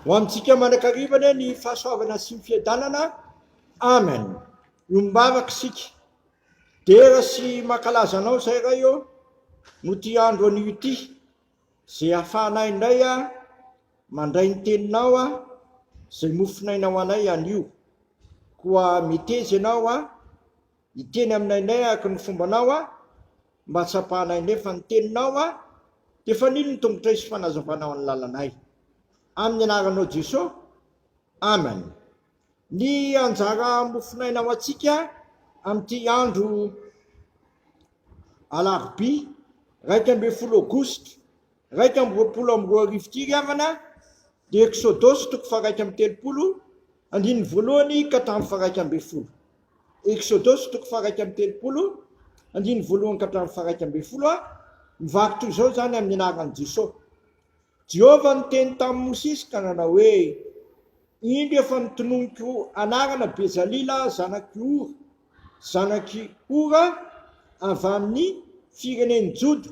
Ho amintsika mandrakariva anie ny fahasoavana sy ny fiadanana. Amen. Io mivavaka isika. Dera sy mankalaza anao izay Ray ô, no ty andro anio ity, izay ahafahanay indray a, mandray ny teninao a, izay mofonaina ho anay anio. Koa meteza ianao a, Hiteny aminay nay araka ny fombanao aho, mba hatsapahanay nefa ny teninao aho, dia fanilo ny tongotray sy fanazavanao ny lalanay. Amin'ny anaranao Jeso, Amen. Ny anjara mofon'aina ho antsika amin'ity andro alarobia iraika ambin'ny folo aogositra iraika amby roapolo amby roa arivo ity ry havana dia Eksodosy toko faharaika amby telopolo andininy voalohany ka hatramin'ny faharaika ambin'ny folo. Eksodosy toko faha-iraika amby telopolo, andininy voalohany ka hatramin'ny faha-iraika ambin'ny folo a Mivaky toy izao izany amin'ny anaran'i Jesosy. Jehovah niteny tamin'i Mosesy ka nanao hoe, Indro efa notononiko anarana Bezalila zanak'i Ora, zanak'i Hora avy amin'ny firenen'i Joda,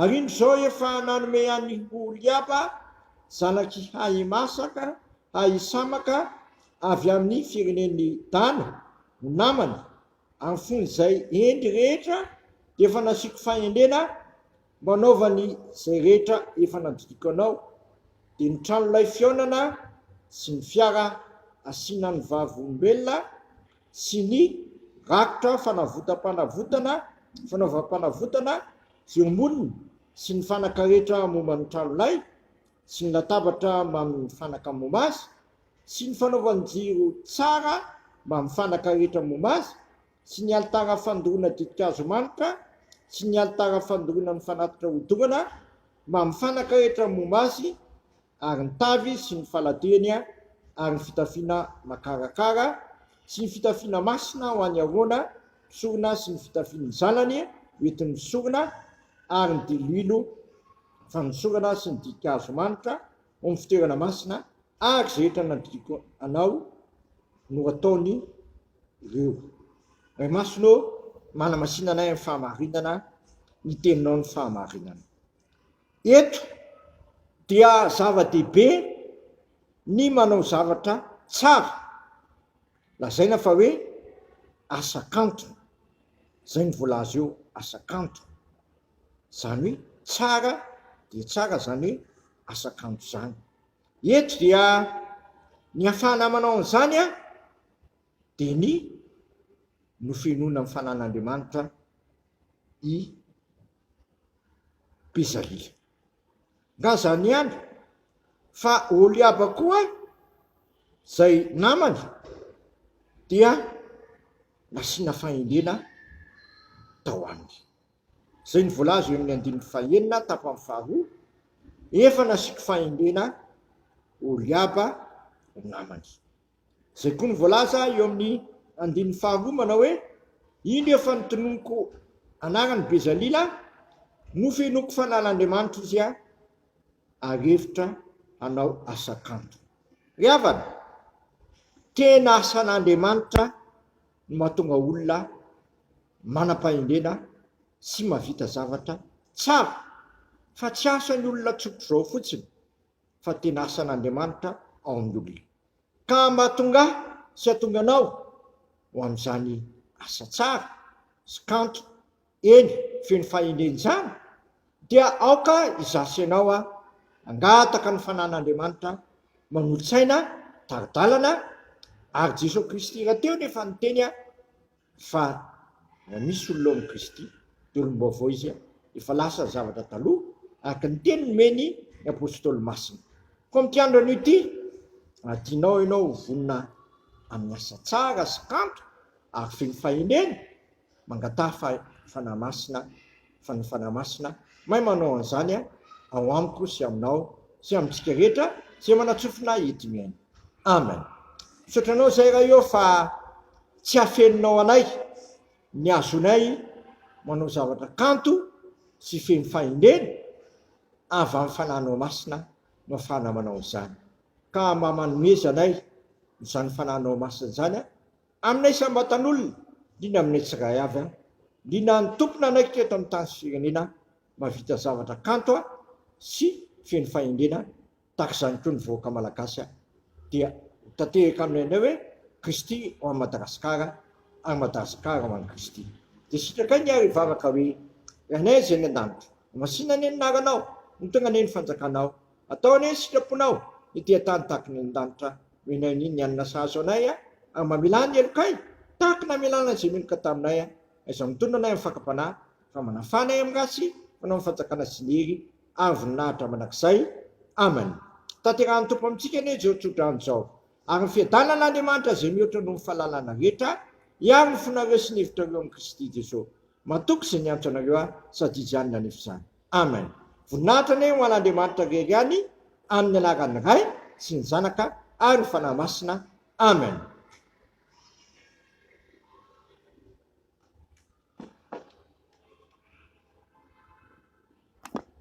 Ary indro izao efa nanome an' i Oholiaba zanak' i Ahimasaka, Ahisamaka, avy amin' ny firenen' i Dana, ho namany, amin'ny fony izay hendry rehetra dia efa nasiako fahendrena mba hanaovany izay rehetra efa nandidiako anao, dia ny trano lay fihaonana sy ny fiara asiana ny vavolombelona sy ny rakotra fanavotam-panavotana, fanaovam-panavotana fiomonina sy ny fanaka rehetra momba ny tranolay sy ny latabatra mamin' ny fanaka momba azy sy ny fanaovan-jiro tsara mamin' ny fanaka rehetra momba azy sy ny alitara fandoroana ditin-kazo manitra sy ny alitara fandoroana ny fanatitra hodorana mamin' ny fanaka rehetra momba azy, ary ny tavy sy ny faladeny ary ny fitafiana makarakara sy ny fitafiana masina ho an'i Arona mpisorona sy ny fitafian'ny zanany hoentin'ny mpisorona ary ny diloilo fanosorana sy ny dihin-kazo manitra ao amin'ny fitoerana masina ary izay rehetra nandidiako anao no ataony ireo. Ray Masina ô, manamasina anay amin'ny fahamarinana, ny teninao no fahamarinana. Eto dia zava-dehibe ny manao zavatra tsara, lazaina fa hoe asa kanto, izay no voalaza eo, asa kanto, izany hoe tsara dia tsara izany hoe asa kanto izany. Eto dia ny hafahana manao an'izany dia ny nofenoina amin'ny fanan'Andriamanitra i Pizzaria. Nga zany ihany fa Oliaba koa zay namany dia nasiana fahendrena tao aminy. Zay ny voalaza eo amin'ny andininy fahenina tapany faharoa, efa nasiako fahendrena Oliaba namany. Izay koa no voalaza eo amin'ny andininy faharoa manao hoe, Indro efa notononiko anarany Bezalila, nofenoiko fanan'Andriamanitra izy ary hevitra hanao asa kanto. Ry havana, tena asan'Andriamanitra ny mahatonga olona manam-pahendrena sy mahavita zavatra tsara, fa tsy asan'ny olona tsotr'izao fotsiny. fa tena asan'Andriamanitra ao amin'ny olona, ka mahatonga ahy sy hahatonga anao ho amin'izany asa tsara sy kanto, eny, feno fahendrena izany, dia aoka izaho sy ianao hangataka ny fanan'Andriamanitra manolo-tsaina tari-dalana, ary Jesoa Kristy rahateo nefa niteny, Fa raha misy olona ao amin'i Kristy, dia olom-baovao izy, efa lasa ny zavatra taloha, araka ny teny nomeny ny Apôstôly Masina. Koa amin'ity andro anio ity, raha tianao ianao ho vonona amin'ny asa tsara sy kanto ary feno fahendrena, mangataha Fanahy Masina, Fa ny Fanahy Masina mahay manao an'izany ao amiko sy aminao sy amintsika rehetra izay manatsofina hidinihaina. Amen. Misaotra Anao izay Ray ô fa tsy afeninao anay ny hahazoanay manao zavatra kanto sy feno fahendrena avy amin'ny Fanahinao Masina no ahafahana manao izany. Ka mba manomeza anay izany Fanahinao Masina izany Amina isam-batan'olona, indrindra aminay tsirairay avy an, indrindra ny Tompo nanaikitra eto amin'ny tany sy firenena mahavita zavatra kanto an sy feno fahendrena tahaka izany koa ny vahoaka Malagasy an, dia ho tanteraka aminay indray hoe Kristy ho an'i Madagasikara ary Madagasikara ho an'i Kristy. Dia sitrakay ny ahy hivavaka hoe, Rainay izay any an-danitra, homasina anie ny anaranao, hotonga anie ny fanjakanao, Atao anie ny sitraponao ny tia tany tahaka ny an-danitra Mino ahy ny ny alina sahazo anay a Ary mamelà ny helokay tahaka ny namelàna izay meloka taminay a Aiza no mitonona anay amin'ny fakam-panahy Fa manafana ahy amin'ny ratsy fanao ny fanjakana sy ny hery Ary voninahitra mandrakizay Amen Tanterahin'ny Tompo amintsika anie izao tsodrano izao Ary ny fiadanana Andriamanitra izay mihoatra noho ny fahalalana rehetra Hiaro ny fonareo sy ny hevitrareo amin'i Kristy Jesoa Matoky izay niantso anareo aho Sady izy ihany nanefa izany. Amen voninahitra anie ho an'Andriamanitra rery any amin'ny anaran'ny Ray sy ny Zanaka ary ny Fanahy Masina Amen.